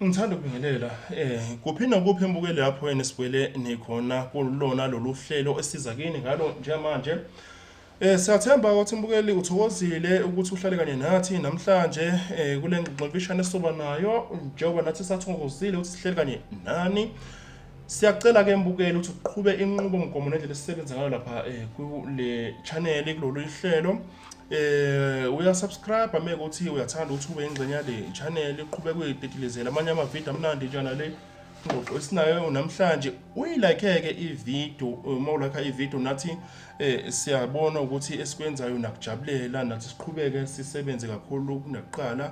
Ngithanda ukubingelela eh kuphi nakuphi embukeli lapho yena sibuyele nikhona kulona lolu hlelo esiza kini ngalo njengamanje Eh siyathemba ukuthi mbukeli uthokozile ukuthi uhlale kanye nathi namhlanje eh kule ngxoxo mfishane soba nayo njengoba nathi sathokozile ukuthi sihleli kanye nani. Siyacela ke mbukeli ukuthi uqhube inqubo mgomo nendlela esisebenza ngayo lapha eh kule channel kulolu ihlelo. eh uyasubscribe ame ukuthi uyathanda ukuthi ube ingxenye yale channel iqhubeke uyidedelezela amanye amavidiyo amnandi njana le ingxoxo esinayo namhlanje uyilakeke ividiyo uma ulakha ividiyo nathi eh siyabona ukuthi esikwenzayo nakujabulela nathi siqhubeke sisebenze kakhulu kunakuqala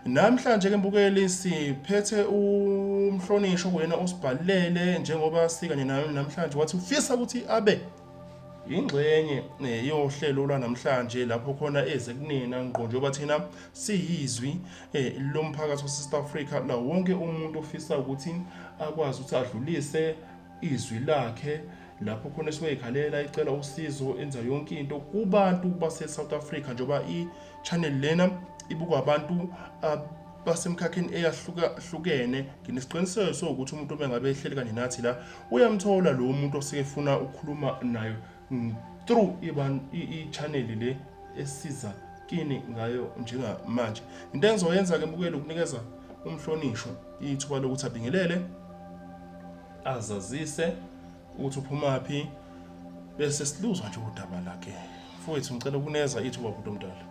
Namhlanje ke mbukeli siphethe umhlonishwa kuyena osibhalele njengoba sikanye nayo namhlanje wathi ufisa ukuthi abe yingxenye eh, yohlelo lwanamhlanje lapho khona eze kunina ngqo njengoba thina siyizwi eh, lomphakathi waseSouth Africa la wonke umuntu ofisa ukuthi akwazi ukuthi adlulise izwi lakhe lapho khona sizoyikhalela icela usizo enza yonke into kubantu base-south africa njengoba i-channel lena ibukwa abantu uh, basemkhakheni eyahlukahlukene nginesiqiniseko sokuthi umuntu obengabe ehleli kanye nathi la uyamthola lowo muntu osekefuna ukukhuluma nayo mm, through i-channel le esiza kini ngayo njengamanje into engizoyenza-ke mbukeli ukunikeza umhlonishwa ithuba lokuthi abingelele azazise ukuthi uphumaphi bese siluzwa nje udaba lakhe mfowethu ngicela ukuneza ithuba bhuti omdala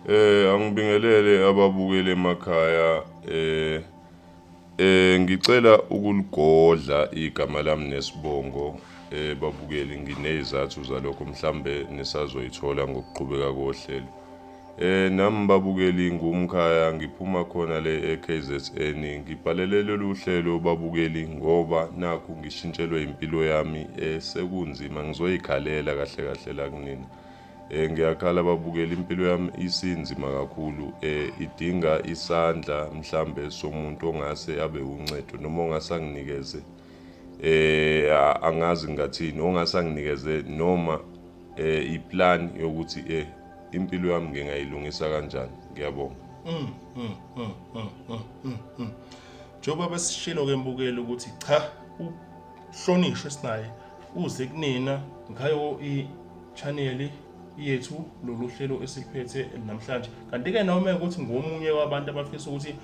eh angibingelele ababukeli emakhaya eh Eh ngicela ukuligodla igama lami nesibongo eh babukeli nginezathu zalokho mhlambe nisazoyithola ngokuqhubeka kohlelo. Eh nami babukeli ngumkhaya ngiphuma khona le eKZN ngibhalele lolu hlelo babukeli ngoba nakhu ngishintshelwe impilo yami eh sekunzima ngizoyikhalela kahle kahle la kunina. Eh ngiyakhala babukela impilo yami isinzima kakhulu eh idinga isandla mhlambe somuntu ongase abe uncedo noma ongase anginikeze eh angazi ngathini ongase anginikeze noma eh iplan yokuthi eh impilo yami ngingayilungisa kanjani ngiyabonga mm, mm, mm, mm, mm, mm. njengoba besishilo ke mbukeli ukuthi cha Hlonishwe sinaye uze kunina ngayo i-channel yethu lolu hlelo esiliphethe namhlanje kanti-ke noma ukuthi ngomunye wabantu abafisa ukuthi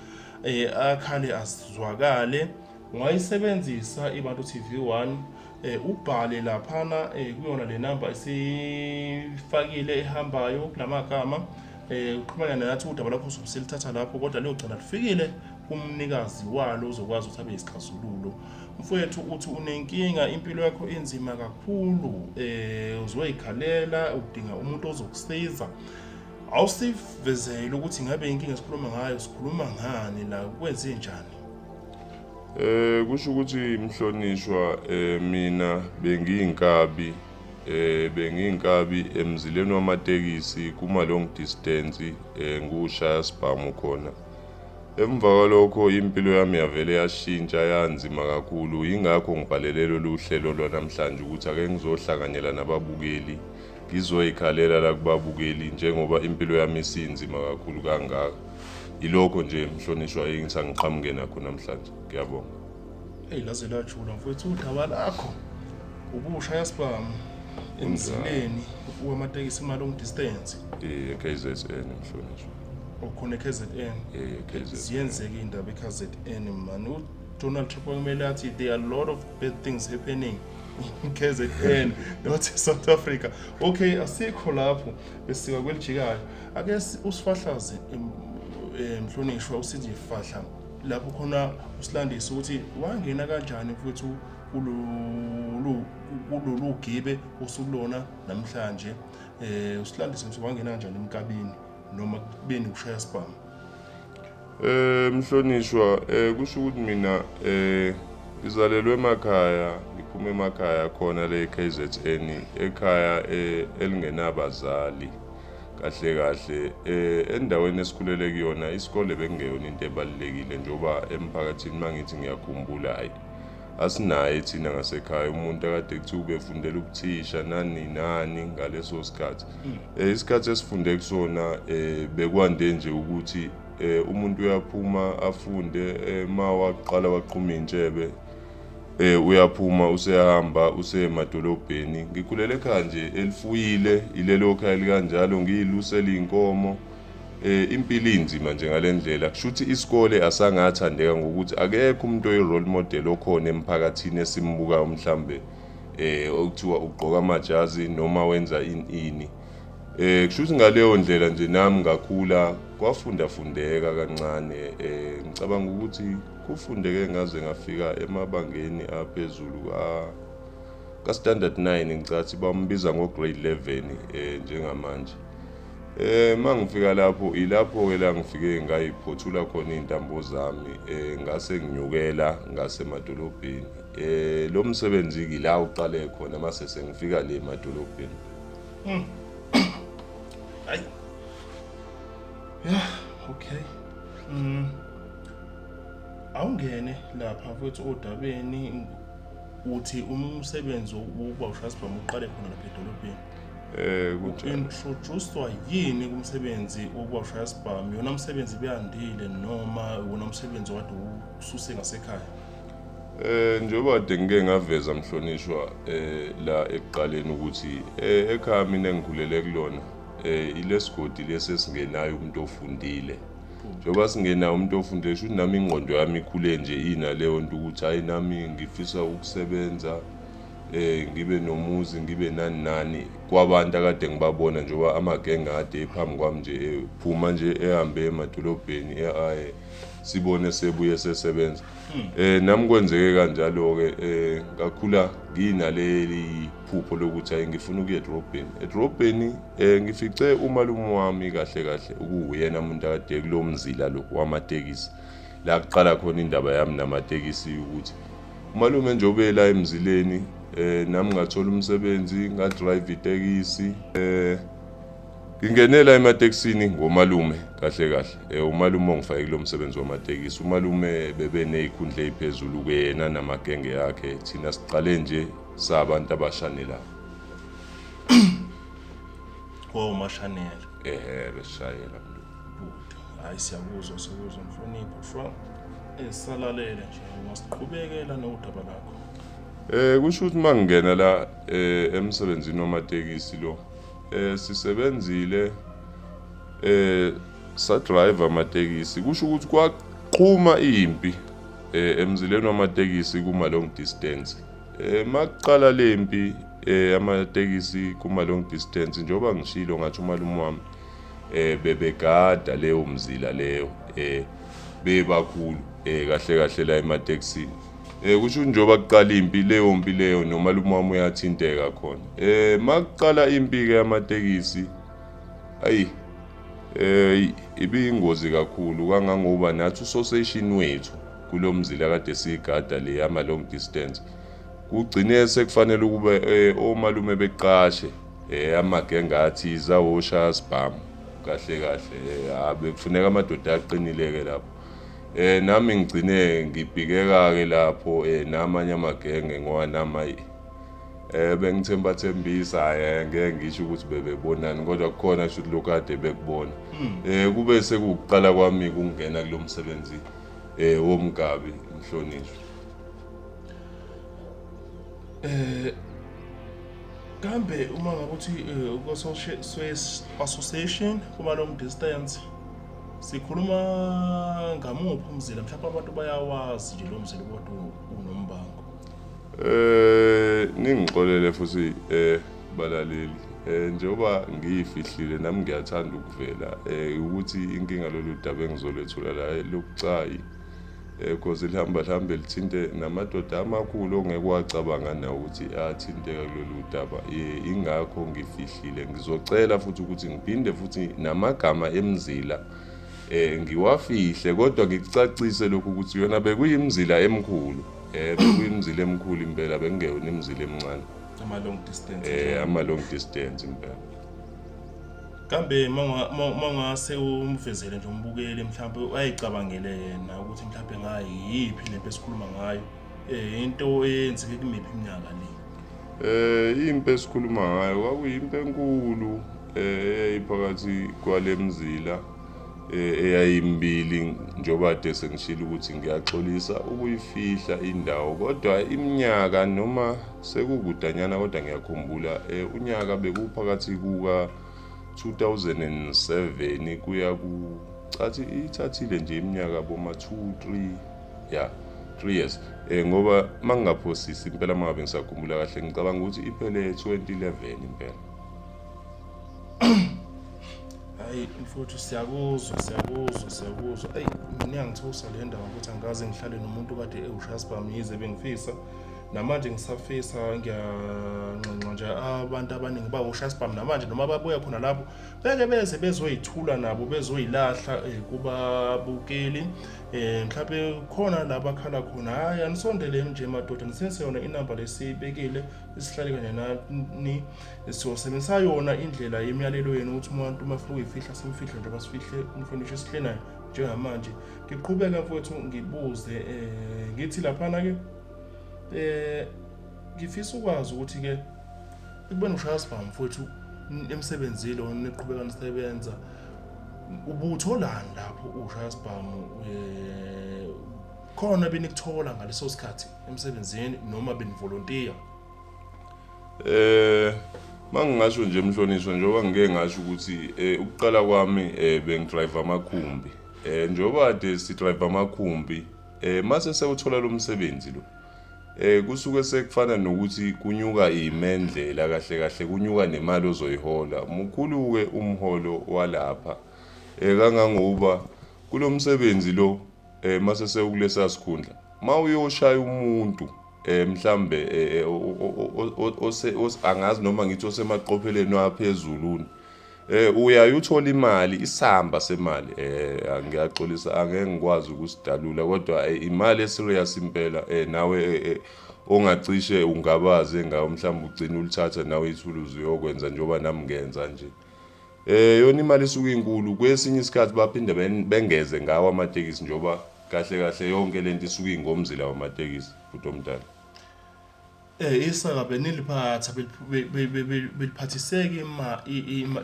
um akhale azizwakale ungayisebenzisa ibantu TV 1 eh ubhale laphana eh kuyona le number esifakile ehambayo kulamagama eh uqhumana nathi udaba lakho sokusilithatha lapho kodwa leyo cala lifikile kumnikazi walo uzokwazi ukuthi abe isixazululo mfowethu uthi unenkinga impilo yakho inzima kakhulu um uzoyikhalela udinga umuntu ozokusiza awusivezele ukuthi ngabe inkinga sikhuluma ngayo sikhuluma ngani la kwenze njani Eh kusho ukuthi mhlonishwa eh mina bengiyinkabi eh bengiyinkabi emzileni wamatekisi kuma long distance eh ngushaya sibhamu khona Emva kwalokho impilo yami yavele yashintsha yanzima kakhulu yingakho ngibhalele lolu hlelo lwanamhlanje ukuthi ake ngizohlanganyela nababukeli ngizoyikhalela la kubabukeli njengoba impilo yami isinzima kakhulu kangaka yilokho nje mhlonishwa engitha ngiqhamuke nakho namhlanje ngiyabonga eyi laze lajula mfowethu udaba lakho ubusha yasibhamu emzileni uwamatekisi imali ongidistance i-kzn mhlonishwa okhona eKZN eh KZN ziyenzeka indaba eKZN man uDonald Trump kumele athi there are a lot of bad things happening in KZN not South Africa okay asikho lapho besika kwelijikayo ake usifahlaze eh, mhlonishwa usithi fahla lapho khona usilandisa ukuthi wangena kanjani futhi kulolu kulolu gibe osulona namhlanje eh usilandise ukuthi wangena kanjani emkabini noma kubeni kushaya sibhamu eh mhlonishwa eh kusho ukuthi mina eh ngizalelwe emakhaya ngiphuma emakhaya khona le KZN ekhaya eh, elingenabazali kahle kahle eh endaweni esikhulele kuyona isikole bekungeyona into ebalekile njoba emphakathini mangithi ngiyakhumbula hayi asinaye thina ngasekhaya umuntu akade kuthiwa ubefundela ubuthisha nani nani ngaleso sikhathi hmm. eh, isikhathi esifunde kusona eh, bekwande nje ukuthi eh, umuntu uyaphuma afunde ma waqala waqhuma intshebe eh uyaphuma usehamba usemadolobheni ngikhulele ekhaya nje elifuyile ilelo khaya likanjalo ngiyilusela inkomo Eh impilo inzima nje ngalendlela kushuthi isikole asangathandeka ngokuthi akekho umuntu oyi role model okhona emphakathini esimbukayo mhlambe eh okuthiwa ugqoka amajazi noma wenza ini ini eh kushuthi ngaleyo ndlela nje nami ngakhula kwafunda fundeka kancane eh ngicabanga ukuthi kufundeke ngaze ngafika emabangeni aphezulu ka ka standard 9 ngicathi bambiza ngo grade 11 eh njengamanje Eh mangifika lapho ilapho ke la ngifike ngayiphothula khona intambo zami eh ngase nginyukela ngase madolobheni eh lo msebenzi ke la uqale khona mase sengifika le madolobheni hmm. ay yeah okay mm awungene lapha futhi odabeni uthi umsebenzi wokuba ushasibhamu uqale khona lapha edolobheni eh ukuthi introducedwa yini kumsebenzi wokuwashaya sibhamu yona umsebenzi beyandile noma wona umsebenzi wade ususe ngasekhaya Eh njengoba kade ngike ngaveza mhlonishwa eh la ekuqaleni ukuthi eh ekhaya mina engikhulele kulona eh ilesigodi lesi esingenayo umuntu ofundile njengoba singenayo umuntu ofundile shuthi nami ingqondo yami ikhule nje inaleyo nto ukuthi hayi nami ngifisa ukusebenza eh ngibe nomuzi ngibe nani nani kwabantu akade ngibabona njengoba amagenge ade ephambi kwami nje ephuma nje ehambe emadolobheni eaye sibone sebuye sesebenza hmm. eh nami kwenzeke kanjalo ke eh ngakhula nginaleli phupho lokuthi ayi ngifuna ukuya edrobheni edrobheni eh ngifice umalume wami kahle kahle ukuwuyena umuntu akade kulomzila lo wamatekisi la kuqala khona indaba yami namatekisi ukuthi umalume nje obela emzileni eh nami ngathola umsebenzi ngadrive itekisi eh ngingenela ematekisini ngomalume kahle kahle eh umalume ongifake kulo msebenzi wamatekisi umalume bebe nezikhundla eziphezulu kuyena namagenge yakhe thina siqale nje sabantu abashanela wo mashanela ehe beshayela Hayi siyakuzwa siyakuzwa mhlonipho from esalalele eh, nje masiqhubekela nodaba lakho. Eh kusho ukuthi mangingena la eh, emsebenzini wamatekisi lo. Eh sisebenzile eh sa driver amatekisi kusho ukuthi kwaqhuma impi eh emzileni wamatekisi kuma long distance. Eh makuqala lempi eh amatekisi kuma long distance njengoba ngishilo ngathi umalume wami eh bebegada leyo mzila leyo eh bebakhulu eh kahle kahle la emateksini eh kusho njengoba kuqala impi leyo mpi leyo nomalume wami uyathinteka khona eh makuqala impi ke yamatekisi ayi eh ibiyingozi kakhulu kangangoba nathi usosation wethu kulomzila kade sigada le yama long distance kugcine sekufanele ukube eh, omalume beqashe Eh amagenge athi zawosha asibhamu kahle kahle eh, abe kufuneka amadoda aqinile ke lapho. Eh nami ngigcine ngibhikeka ke lapho eh namanye amagenge ngoba nama eh bengithemba thembisa hayi ngeke ngisho ukuthi bebebonani kodwa kukhona shuthi lokade bekubona. Hmm. Eh kube sekuqala kwami kungena kulomsebenzi eh womgabi mhlonishwa. Eh kambe uma ngabe uthi eh, kwa-swiss association kuma-long distance sikhuluma ngamuphi umzila mhlawumbe abantu bayawazi nje lo mzila kodwa unombango eh ningixolele futhi eh balaleli eh njengoba ngiyifihlile nami ngiyathanda ukuvela eh ukuthi inkinga lolu daba engizolethula la lokucayi because eh, lihamba lihambe lithinte namadoda amakhulu ongeke wacabanga nawo ukuthi athinteka kulolu daba eh, ingakho ngifihlile ngizocela futhi ukuthi ngiphinde futhi namagama emzila eh ngiwafihle kodwa ngikucacise lokhu ukuthi yona bekuyimzila emkhulu eh bekuyimzila emkhulu impela bekungeyona imzila emncane ama long distance eh ama long distance impela kambe mawungase umvezele nje umbukeli mhlawumbe ayicabangele yena ukuthi mhlawumbe ngayiyiphi lento esikhuluma ngayo um into eyenzeke kumiphi iminyaka le um impi esikhuluma ngayo kwakuyimpi enkulu um eyayiphakathi kwale mzila eh, eyayimbili njengoba kade sengishilo ukuthi ngiyaxolisa ukuyifihla indawo kodwa iminyaka noma Sekukudanyana kodwa ngiyakhumbula eh, unyaka bekuphakathi kuka 2007 kuya ku cathi ithathile nje iminyaka boma 2 3 ya 3 years eh ngoba mangingaphosisi impela mangabe ngisakhumbula kahle ngicabanga ukuthi iphele 2011 impela hayi mfuthu siyakuzwa siyakuzwa siyakuzwa eyi mina ngithusa le ndawo ukuthi angikaze ngihlale nomuntu kade ewushasbam yize bengifisa namanje ngisafisa ngiyanxenxa nje abantu abaningi bawusha sibhamu namanje noma babuya khona lapho beke beze bezoyithula nabo bezoyilahla eh, kubabukeli um eh, mhlawumbe khona la bakhala khona hhayi anisondeleni nje madoda niseseyona inamba lesiyibekile isihlale kanye nani siyosebenzisa yona indlela yemiyalelo yenu ukuthi umuntu uma funa ukuyifihla simfihle njengoba sifihle umhlonishwa esihle nayo njengamanje ngiqhubeke mfowethu ngibuze um ngithi laphana ke um ngifisa ukwazi ukuthi ke ekubeni ushaya sibhamu mfowethu emsebenzile or niqhubeka nisebenza ubutholani lapho ushaya sibhamu eh, khona benikuthola ngaleso sikhathi emsebenzini noma benivolontiya eh mangingasho nje mhlonishwa njengoba ngike ngasho ukuthi eh, ukuqala kwami eh, bengidrive amakhumbi Eh njengoba kade si drive amakhumbi eh mase sewuthola lo msebenzi lo eh kusuke sekufana nokuthi kunyuka imendlela kahle kahle kunyuka nemali ozoyihola mukhuluke umholo walapha eh kangangoba kulomsebenzi lo eh mase sewukulesa sikhundla mawuyoshaya umuntu eh mhlambe eh, eh, angazi noma ngithi osemaqopheleni aphezulu Eh uyayuthola imali isamba semali eh ngiyaxolisa angeke ngikwazi ukusidalula kodwa eh, imali eserious impela eh nawe eh, eh, ongacishe ungabaze ngawo mhlawumbe ugcina ulithatha nawe ithuluzi uyokwenza njengoba nami ngenza nje eh yona imali isuke inkulu kwesinye isikhathi baphinde bengeze ngawo amatekisi njengoba kahle kahle yonke lento isuke ingomzila wamatekisi futhi omdala Eh isaka beniliphatha beliphathiseke ima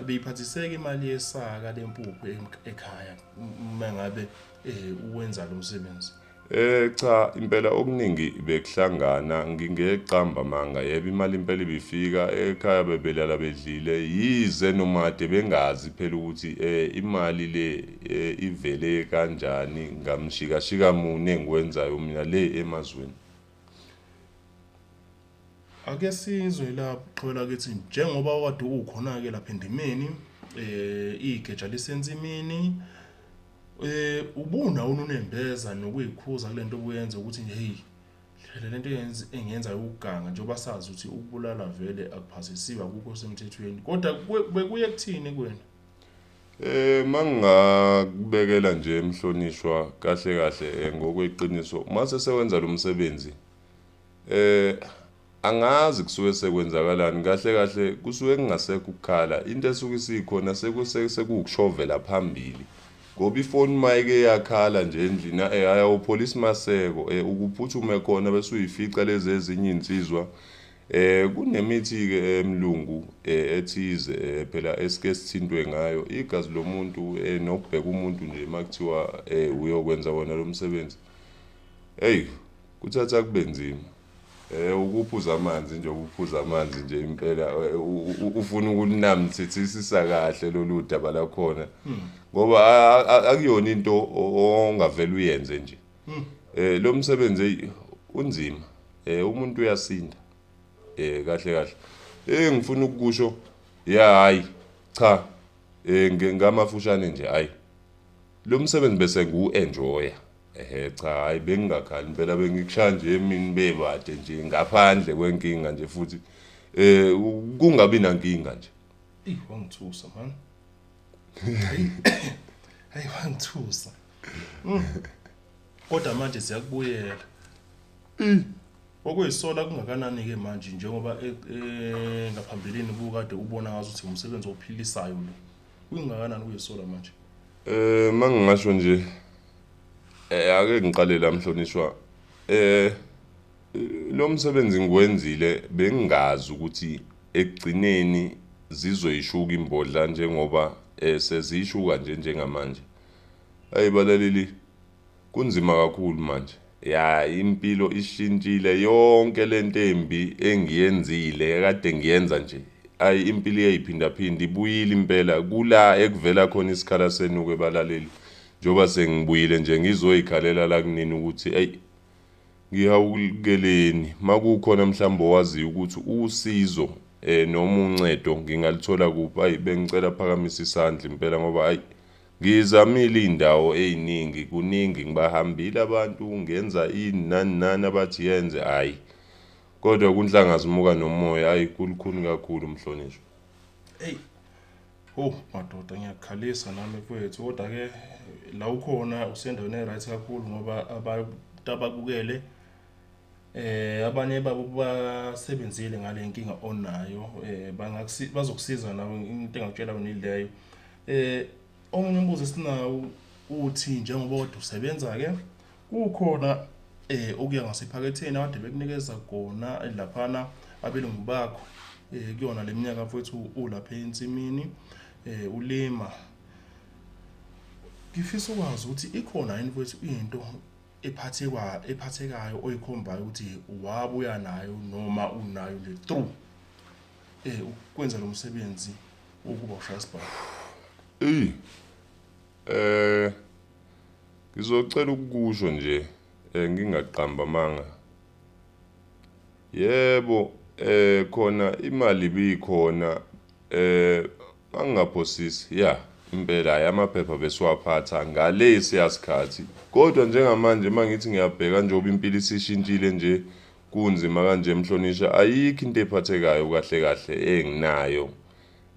beyiphathiseke imali yesaka lempuphu ekhaya uma ngabe eh uwenza lo msebenzi. Eh cha impela okuningi bekuhlangana ngingeqamba manga yebo imali impela ibifika ekhaya bebelala bedlile yize nomade bengazi phela ukuthi eh imali le eh, ivele kanjani ngamshika shika mune engikwenzayo mina le emazweni Ake sizwe lapho qhubela kithi njengoba wade ukhona ke lapha endimeni eh igeja lisensimini eh ubuna ununembeza nokuyikhuza kulento obuyenza ukuthi hey phela lento eyenza engenza ukuganga njengoba sazi ukuthi ukubulala vele akuphasisiwe akukho semthethweni kodwa bekuye kuthini kuwena Eh mangingakubekela nje emhlonishwa kahle kahle eh, ngokweqiniso uma sesewenza lo msebenzi eh angazi kusuke sekwenzakalani kahle kahle kusuke kungasekho ukukhala into esuke isikhona sekuwukushovela phambili ngoba ifoni mayike yakhala nje endlini eh ayawupholisa maseko eh ukuphuthume khona bese uyifica lezi ezinye insizwa Eh kunemithi ke emlungu eh, eh, ethize eh, phela esike sithintwe ngayo igazi lomuntu eh, nokubheka umuntu nje makuthiwa eh, uyokwenza wona lo msebenzi hey kuthatha kube nzima eh ukuphuza amanzi nje ukuphuza amanzi nje impela eh, ufuna ukunamthethisa kahle lolu daba lakhona hmm. ngoba akuyona into ongavela uyenze nje hmm. eh lo msebenzi eyi unzima eh umuntu uyasinda eh kahle kahle eh ngifuna ukukusho ya hayi cha eh ngamafushane nje hayi lo msebenzi bese ngu-enjoya ehe cha hhayi bengingakhali impela bengikushaya nje emini bebade nje ngaphandle kwenkinga nje futhi um kungabi nankinga nje eyi wangithusa mani hayi wangithusa mm. kodwa manje siyakubuyela mm. okuyisola kungakanani ke manje njengoba e, e, ngaphambilini bukade ubona ngazo ukuthi umsebenzi ophilisayo lo kungakanani kuyisola manje eh mangingasho nje eh ake ngiqale la mhlonishwa eh lo msebenzi ngiwenzile bengingazi ukuthi ekugcineni zizoyishuka imbodla njengoba eh, seziyishuka nje njengamanje ayi balaleli kunzima kakhulu manje ya impilo ishintshile yonke lento embi engiyenzile kade ngiyenza nje ayi impilo iyayiphindaphinda ibuyile impela kula ekuvela khona isikhala senuke balaleli njengoba sengibuyile nje ngizoyikhalela la kunini ukuthi eyi Ngihawukeleni makukhona mhlawumbe owaziyo ukuthi usizo eh noma uncedo ngingalithola kuphi ayi bengicela phakamisa isandla impela ngoba ayi ngizamile izindawo eziningi kuningi ngibahambile abantu ngenza ini nani nani abathi yenze ayi kodwa kunhlanga zimuka nomoya ayi kulukhuni kakhulu mhlonishwa hey Oh madoda ngiyakukhalisa nami kwethu kodwa ke la ukhona usendaweni e-right kakhulu ngoba abantu abakukele eh abanye babo basebenzile ngale nkinga onayo eh bangakusiza bazokusiza nawe into engakutshela wena ileyo eh omunye umbuzo esinawo uthi njengoba kodwa usebenza ke Kukhona eh okuya ngasephaketheni abade bekunikeza kona laphana abelungu bakho eh kuyona leminyaka mfowethu ulapha ensimini eh ulima ngifisa ukwazi ukuthi ikhona yini mfowethu into ephathekwa ephathekayo oyikhombayo ukuthi wabuya nayo noma unayo le through eh ukwenza lo msebenzi ukuba ushaya isibhamu Ey, Eh ngizocela ukukusho nje eh, ngingaqamba amanga. Yebo eh khona imali bikhona eh angingaphosisi ya impela yamaphepha besiwaphatha ngale siyasikhathi kodwa njengamanje mangithi ngiyabheka njengoba impilo isishintshile nje kunzima kanje mhlonisha ayikho into ephathekayo kahle kahle enginayo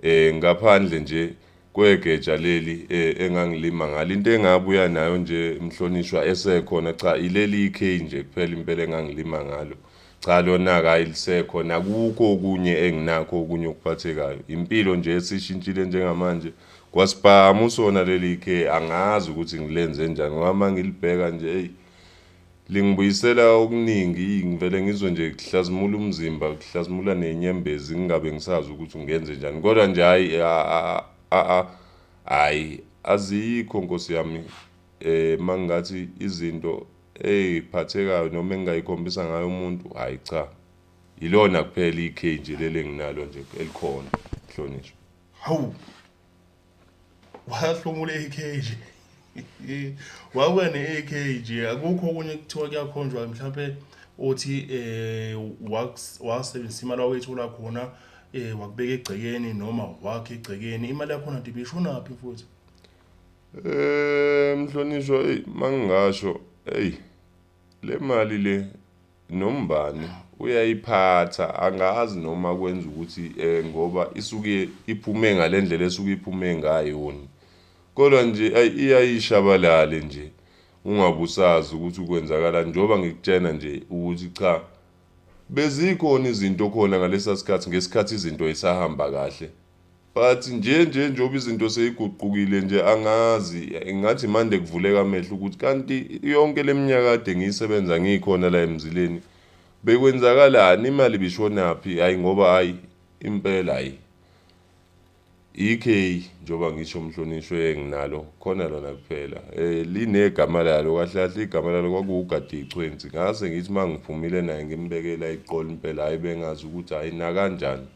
eh ngaphandle nje kwegeja leli eh, engangilima ngalo into engabuya nayo nje mhlonishwa esekhona cha ileli ikhe nje kuphela impela engangilima ngalo cha lona ka ilisekho nakukho okunye enginakho okunye okuphathekayo impilo nje esishintshile njengamanje kwasibhamu sona leli ikhe angazi ukuthi ngilenze njani ngoba mangilibheka nje hey Lingibuyisela okuningi ngivele ngizwe nje kuhlazimula umzimba kuhlazimula nenyembezi ngingabe ngisazi ukuthi ngenze njani kodwa nje hayi hayi azikho nkosi yami eh mangathi izinto eyiphathekayo noma engingayikhombisa ngayo umuntu hayi cha yilona kuphela ikhe nje leli enginalo nje elikhona hlonishwa hawu wahlomula ekheji wabuya ne-ekheji akukho okunye kuthiwa kuyakhonjwa mhlawumpe othi um wasebenzisa imali awayithola khona eh wakubeka egcekeni noma wakhe egcekeni imali yakhona nti bishonaphi futhi eh mhlonishwa eyi mangingasho eyi Le mali le nombani uyayiphatha angazi noma kwenza ukuthi eh ngoba isuke iphume ngalendlela esuke iphume ngayo ni kodwa nje ay iyayishabalale nje ungabusazi ukuthi ukwenzakala njengoba ngikutshena nje ukuthi cha bezikhona izinto khona ngalesa sikhathi ngesikhathi izinto isahamba kahle But nje nje njengoba izinto seyiguqukile nje angazi ngathi mande kuvuleka amehlo ukuthi kanti yonke leminyaka kade ngiyisebenza ngikhona la emzileni bekwenzakalani imali bishonaphi hayi ngoba hayi impela hayi ikhe njengoba ngisho mhlonishwe nginalo khona lona kuphela eh linegama lalo kahle kahle igama lalo kwakuwugadi ichwenzi ngase ngithi mangiphumile naye ngimbekela iqola impela hayi bengazi ukuthi hayi nakanjani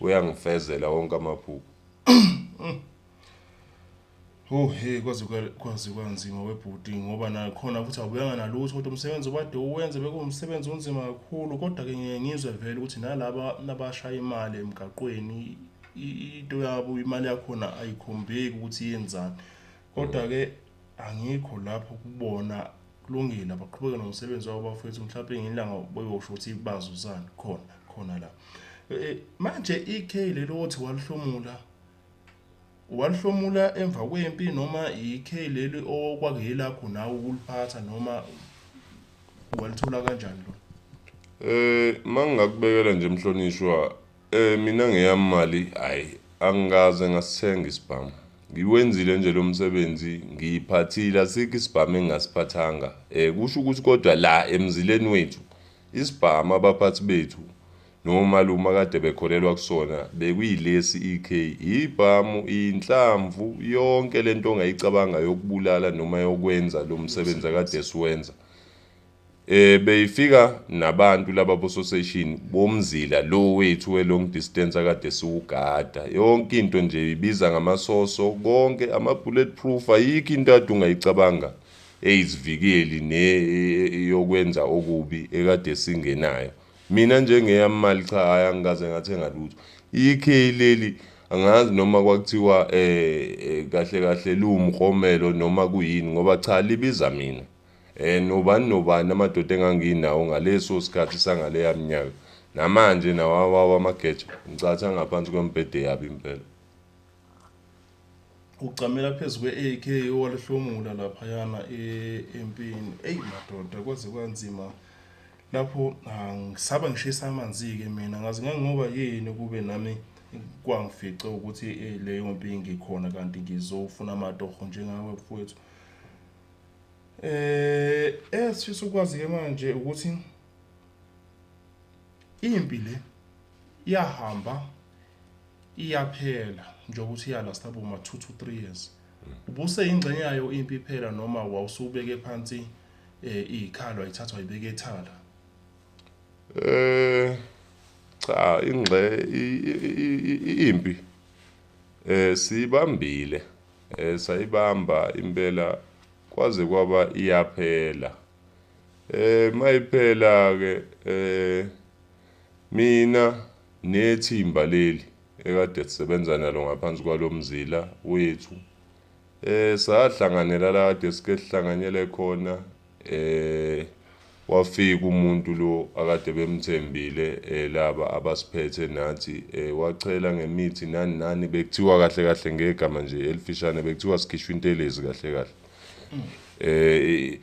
uyangifezela wonke amaphupho Oh hey kwaze kwaze kwanzima webhuti ngoba nakhona futhi awubuyanga nalutho kodwa umsebenzi obade uwenze bekuwumsebenzi onzima kakhulu kodwa ke ngiye ngizwe vele ukuthi nalaba nabashaya imali emgaqweni into yabo imali yakhona ayikhombeki ukuthi yenzani kodwa ke Angikho lapho kubona kulungile abaqhubeke nomsebenzi wabo bafethu mhlawumbe ngelanga beyosho ukuthi bazuzani khona khona la e, e, manje ikhe lelo othi walihlomula walihlomula emva kwempi noma ikhe leli okwakuyelakho nawe ukuliphatha noma walithola kanjani lo eh mangingakubekela nje mhlonishwa Eh mina ngeyami mali hayi angikaze ngasithenga isibhamu. Ngiwenzile nje lo msebenzi ngiyiphathile asikho isibhamu engingasiphathanga. Eh kusho ukuthi kodwa la emzileni wethu isibhamu abaphathi bethu nomalume akade bekholelwa kusona bekuyilesi EK ibhamu inhlamvu yonke lento ongayicabanga yokubulala noma yokwenza lo msebenzi akade siwenza. Eh beyifika nabantu laba bososeshini bomzila lo wethu we long distance akade siwugada yonke into nje ibiza ngamasoso konke ama bullet proof ayikho into ade ungayicabanga eyizivikeli ne e, e, yokwenza okubi ekade singenayo mina njengeyamali cha hayi angikaze ngathenga lutho ikhe leli angazi noma kwakuthiwa eh, eh kahle kahle liwumromelo noma kuyini ngoba cha libiza mina Eh nobani nobani amadoda enganginawo ngaleso sikhathi sangaleya minyaka. Namanje nawawawa amageja ngicatha ngaphansi kwembhede yabi impela. Ugcamela phezu kwe-AK owalihlomula laphayana e-, empini. Eyi madoda kwaze kwanzima lapho ngisaba ngishisa amanzi-ke mina ngazi ngangoba yini kube nami kwangifice ukuthi eh, leyo mpi ngikhona kanti ngizofuna amatoho njengawe mfowethu eh esifisa ukwazi ke manje ukuthi impi le iyahamba iyaphela njengoba uthi iyalasta boma 2 to 3 years ubuse ingxenye yayo impi iphela noma wawusubeke phansi eh ikhalo ayithathwa ibeke ethala eh cha ingxe impi eh sibambile Eh, sayibamba impela kwaze kwaba iyaphela eh mayiphela ke eh mina nethimba leli ekade sisebenza nalo ngaphansi kwalomzila wethu eh sahlanganela la kade sike sihlanganyele khona eh wafika umuntu lo akade bemthembile eh, laba abasiphethe nathi eh, wachela ngemithi nani nani bekuthiwa kahle kahle ngegama nje elifishane bekuthiwa sikhishwa intelezi kahle kahle eh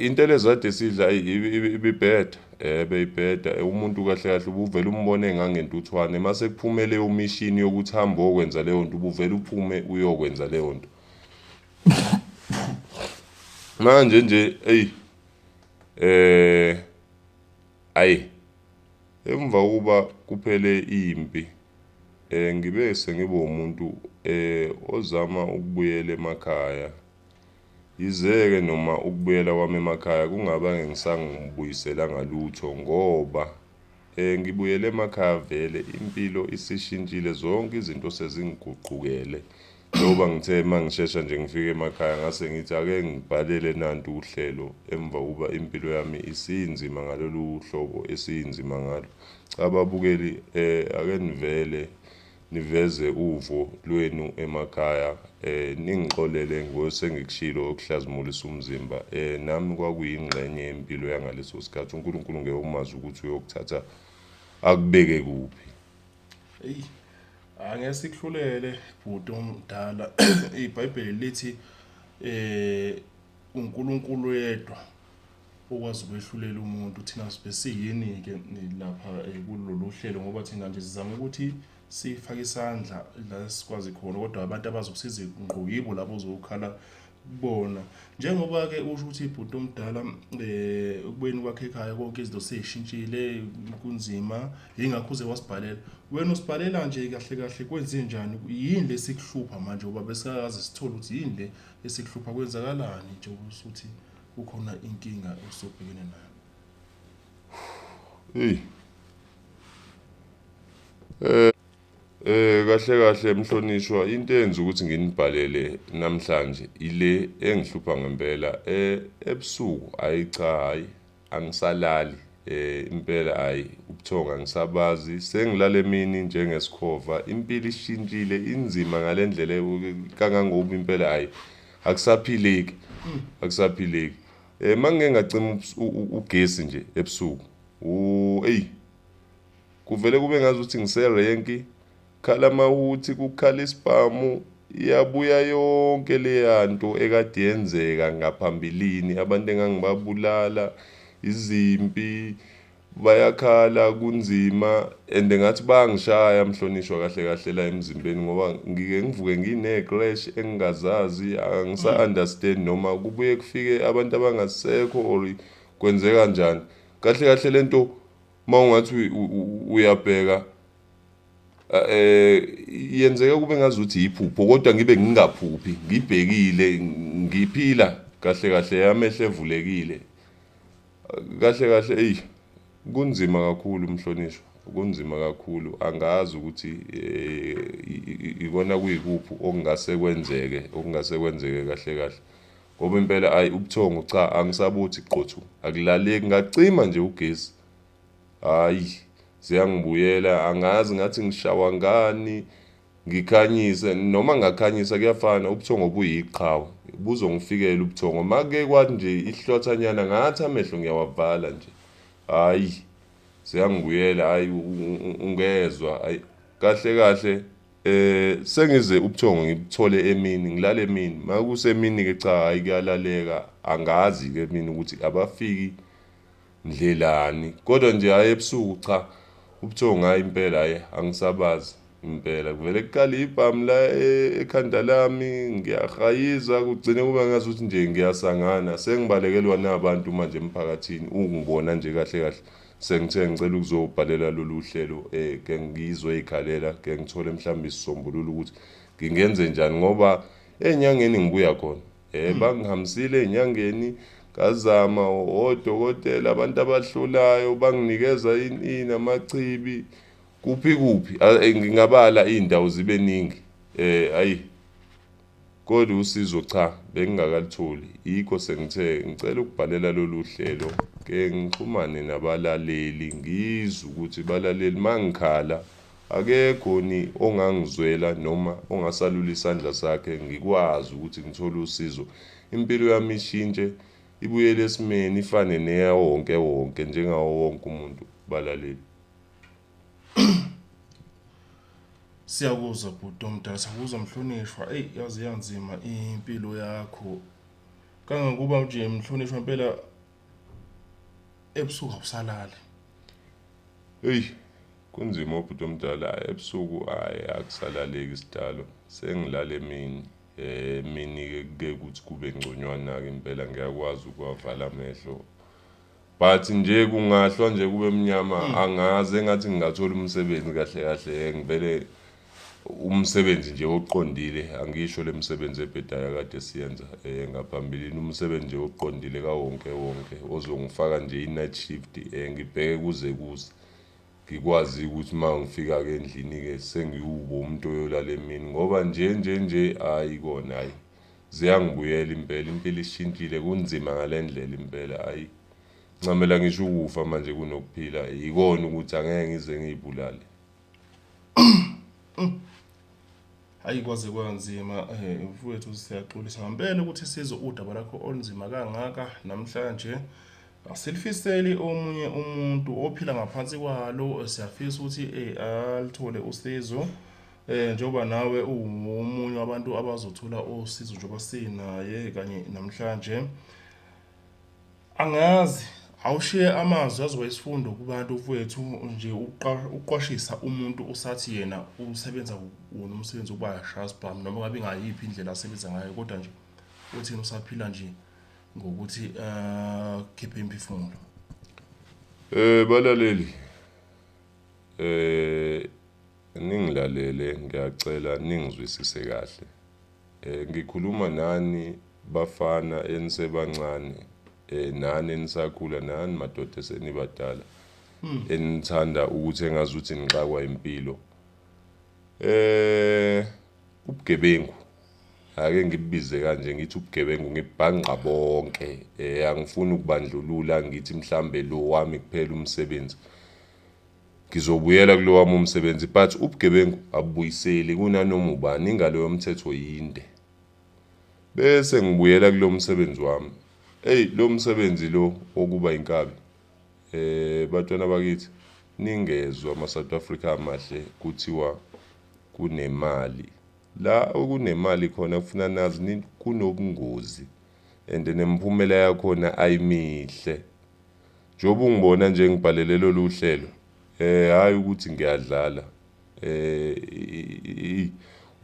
intelezi kade sidla ibibheda eh beyibheda eh, umuntu kahle kahle ubuvela umbone ngangentuthwane mase kuphumele umishini yokuthi hambe okwenza leyo nto ubuvela uphume uyokwenza leyo nto manje nje eyi eh ayi emva kokuba kuphele impi eh ngibe sengibe umuntu eh ozama ukubuyela emakhaya yizeke noma ukubuyela kwami emakhaya kungaba ngisangibuyisela ngalutho ngoba Eh ngibuyele emakhaya vele impilo isishintshile zonke izinto sezingiguqukele. Njengoba ngithe uma ngishesha nje ngifike emakhaya ngase ngithi ake ngibhalele nantu uhlelo emva kokuba impilo yami isinzima ngalolu hlobo esinzima ngalo. Cha babukeli eh ake nivele niveze uvo lwenu emakhaya um ningixolele ngosengikushilo okuhlazimulisa umzimba um nami kwakuyingxenye yempilo yangaleso sikhathi unkulunkulu ngeke umazi ukuthi uyokuthatha akubeke kuphi eyi angeke sikuhlulele bhuti omdala ibhayibheli lithi eh uNkulunkulu yedwa okwazi ukwehlulela umuntu thina sibe siyini-ke lapha eh, kulolu hlelo ngoba thina nje sizama ukuthi sifake isandla la sikwazi khona kodwa abantu abazokusiza ngqo yibo labo ozokhala kubona njengoba-ke usho ukuthi ibhuti omdala um eh, ukubeni kwakhe ekhaya konke izinto seyishintshile kunzima yingakho uze wasibhalela wena usibhalela nje kahle kahle kwenze njani yini le sikuhlupha manje uba besingakaze sithole ukuthi yini le esikuhlupha kwenzakalani nje usuthi kukhona inkinga osobhekene nayo hey eh Eh kahle kahle mhlonishwa into enza ukuthi nginibhalele namhlanje ile engihlupha ngempela eh ebusuku hayi cha hayi angisalali eh impela hayi ubuthonga ngisabazi sengilale emini njengesikhova impilo ishintshile inzima ngalendlela kangangoba impela hayi akusaphileki akusaphileki eh mangeke ngacima ugesi nje ebusuku u ey kuvele kube ngazi ukuthi ngise renki khala mahuthi kukhala isibhamu iyabuya yonke leya nto ekade yenzeka ngaphambilini abantu engangibabulala izimpi bayakhala kunzima and ngathi bayangishaya mhlonishwa kahle kahle la emzimbeni ngoba ngike ngivuke ngine-clash engingazazi angisa-understand noma kubuye kufike abantu abangasekho or kwenzeka njani kahle kahle le nto uma ungathi uyabheka eh yenzeka kube ngazuthi yiphupho kodwa ngibe ngingaphuphi ngibhekile ngiphila kahle kahle yamehlo evulekile Kahle kahle eyi kunzima kakhulu mhlonishwa kunzima kakhulu angazi ukuthi eh, ikona kuyikuphi okungase kwenzeke okungase kwenzeke kahle kahle ngoba impela ayi ubuthongo cha angisabuthi qothu akulaleki ngacima nje ugesi hayi ziyangibuyela angazi ngathi ngishawa ngani Ngikhanyise noma ngakhanyisa kuyafana ubuthongo buyiqhawe buzongifikela ubuthongo make kwathi nje ihlothanyana ngathi amehlo ngiyawavala nje hayi seyangibuyela hayi ungezwa hayi kahle kahle eh sengize ubuthongo ngibuthole emini ngilale emini makusemini ke cha hayi kuyalaleka angazi ke mina ukuthi abafiki Ndlelani. Kodwa nje hhayi ebusuku cha. Ubuthongo hhayi impela hhayi angisabazi impela. Kuvele kuqale ibhamu la e, ekhanda lami ngiyahayiza kugcine kuba ngazuthi nje ngiyasangana. Sengibalekelwa nabantu manje emphakathini ukungibona nje kahle kahle. Sengithe ngicela ukuzobhalela lolu hlelo um eh, ke ngizoyikhalela ke ngithole mhlawumbe isisombululo ukuthi ngingenze njani ngoba enyangeni ngibuya khona. Eh bangihambisile enyangeni ngazama odokotela abantu abahlolayo banginikeza ini amachibi kuphi kuphi eh, ngingabala izindawo zibe ningi eh ayi kodwa usizo cha bengingakalitholi yikho sengithe ngicela ukubhalela lolu hlelo ke ngixhumane nabalaleli ngizwe ukuthi balaleli mangikhala Akekho ni ongangizwela noma ongasalula isandla sakhe ngikwazi ukuthi ngithole usizo. Impilo yami ishintshe ibuyele esimeni ifane neyawo wonke wonke njengawo wonke umuntu balaleli. Siyakuzwa bhuti omdala, siyakuzwa mhlonishwa. Eyi yaze yanzima impilo yakho. Kangangokuba nje mhlonishwa impela ebusuku awusalali. Eyi Kunzima ubhuti omdala ebusuku ayi akusalaleki sidalo sengilala emini emini ke kuke kuthi kube ngconywana ke impela ngiyakwazi ukuwavala amehlo but nje kungahlwa nje kube mnyama hmm. angazi engathi ngingathola umsebenzi kahle kahle ngivele umsebenzi nje oqondile angisho lemisebenzi ebhedayo kade siyenza eh ngaphambilini umsebenzi nje oqondile kawonke wonke ozongifaka nje i-night shift eh ngibheke kuze kuze Ngikwazi-ke ukuthi uma ngifika-ke endlini-ke sengiwubo umuntu oyolala emini ngoba nje nje nje hhayi kona hhayi ziyangibuyela impela impilo ishintshile kunzima ngale ndlela impela hhayi ncamela ngisho ukufa manje kunokuphila yikona ukuthi angeke ngize ngiyibulale Hayi kwaze kwanzima eh, mfowethu siyaxolisa ngempela ukuthi sizwe udaba lakho olunzima kangaka namhlanje. Asilifiseli omunye umuntu ophila ngaphansi kwalo siyafisa ukuthi eh, alithole usizo. Eh njoba nawe uwumunye wabantu abazothola usizo njoba sinaye kanye namhlanje. Angazi, awushiye amazwi azoba isifundo kubantu mfwethu nje ukuqwashisa umuntu usathi yena usebenza wona umsebenzi wokuba shasbham noma ngabe ngayiphi indlela asebenza ngayo kodwa nje uthini usaphila nje ngokuthi akhiphe eh, imphefumulo eh balaleli eh Ningilalele ngiyacela ningizwisise kahle. Eh ngikhuluma nani bafana enisebancane eh nani enisakhula nani madoda senibadala hmm. enithanda ukuthi engazuthi nixakwa impilo. Eh ubugebengu ake ngibize kanje ngithi ubugebengu ngibhangqa bonke eh angifuni ukubandlulula ngithi mhlambe lo wami kuphela umsebenzi Ngizobuyela kulowami umsebenzi but ubugebengu abubuyiseli kunanoma ubani ingalo yomthetho yinde. Bese ngibuyela kulo msebenzi wami. Eyi lo msebenzi lo wokuba inkabi. Eh batwana bakithi ningezwa ama South Africa amahle kuthiwa kunemali. La okunemali khona kufuna nazi kunobungozi. and nemphumela yakhona ayimihle njengoba ungibona nje ngibhalele lolu hlelo eh hayi ukuthi ngiyadlala eh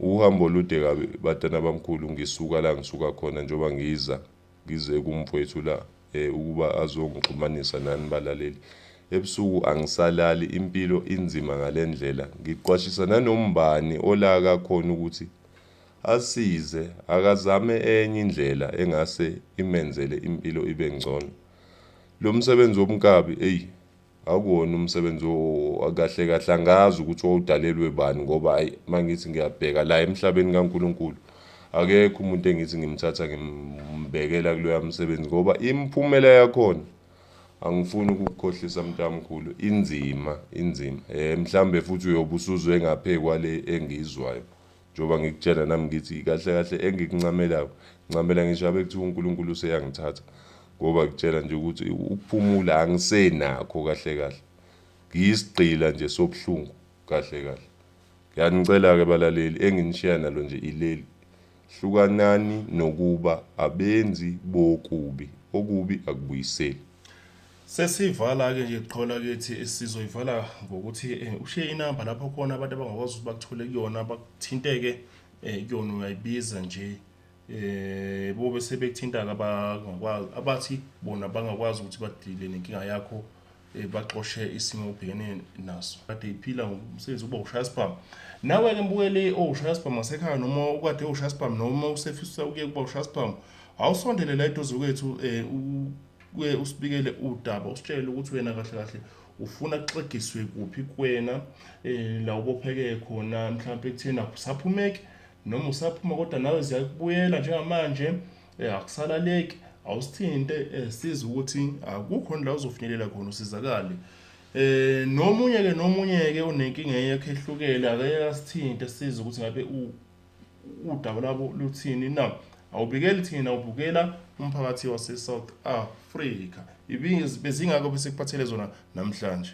uhambo olude kabi batana bamkhulu ngisuka la ngisuka khona njengoba ngiza ngize kumfowethu la eh ukuba azongixhumanisa nani balaleli ebusuku angisalali impilo inzima ngalendlela ngiqwashisa nanombani olaka khona ukuthi Asize akazame enye indlela engase imenzele impilo ibe ngcono. Lo msebenzi wobunkabi eyi akuwona umsebenzi kahle kahle angazi ukuthi wawudalelwe bani ngoba ayi mangithi ngiyabheka la emhlabeni kaNkulunkulu akekho umuntu engithi ngimthatha ngimbekela kuloya msebenzi ngoba imiphumela yakhona angifuni ukukukhohlisa mntamkhulu inzima inzima eh mhlambe futhi uyobe usuzwe ngaphe kwale engizwayo Njengoba ngikutshela nami ngithi kahle kahle engikuncamelayo ncamela ngisho abe kuthiwa uNkulunkulu useyangithatha ngoba kutshela nje ukuthi ukuphumula angisenakho kahle kahle ngiyisigqila nje sobuhlungu kahle kahle ngiyanicela-ke balaleli enginishiya nalo nje ileli hlukanani nokuba abenzi bokubi okubi akubuyiseli Sesivala-ke nje qho lakithi sizoyivala ngokuthi um ushiye inamba lapho khona abantu abangakwazi ukuthi bakuthole kuyona bakuthinte-ke um kuyona uyayibiza nje eh bobe sebekuthintaka abangakwazi abathi bona bangakwazi ukuthi badile nenkinga yakho eh, baxoshe isimo obhekene naso kade iphila ngomsebenzi uba ushaya sibhamu nawe-ke mbukeli owushaya sibhamu asekhaya noma ukade ushaya sibhamu noma usefisa ukuye kuba ushaya sibhamu awusondele la eduze kwethu um kuye usibikele udaba usitshele ukuthi wena kahle kahle ufuna kuxegiswe kuphi kuwena eh, la ubopheke khona mhlawumpe kutheni akusaphumeki noma usaphuma kodwa nawe ziyakubuyela njengamanje eh, akusalaleki awusithinte eh, siza ukuthi akukhona la uzofinyelela khona usizakale eh nomunye ke nomunye ke unenkinga yakhe ehlukele akayasithinte siza ukuthi ngabe udaba labo luthini na awubikeli thina ubukela umphakathi wase-south africa bezingako besikuphathele zona namhlanje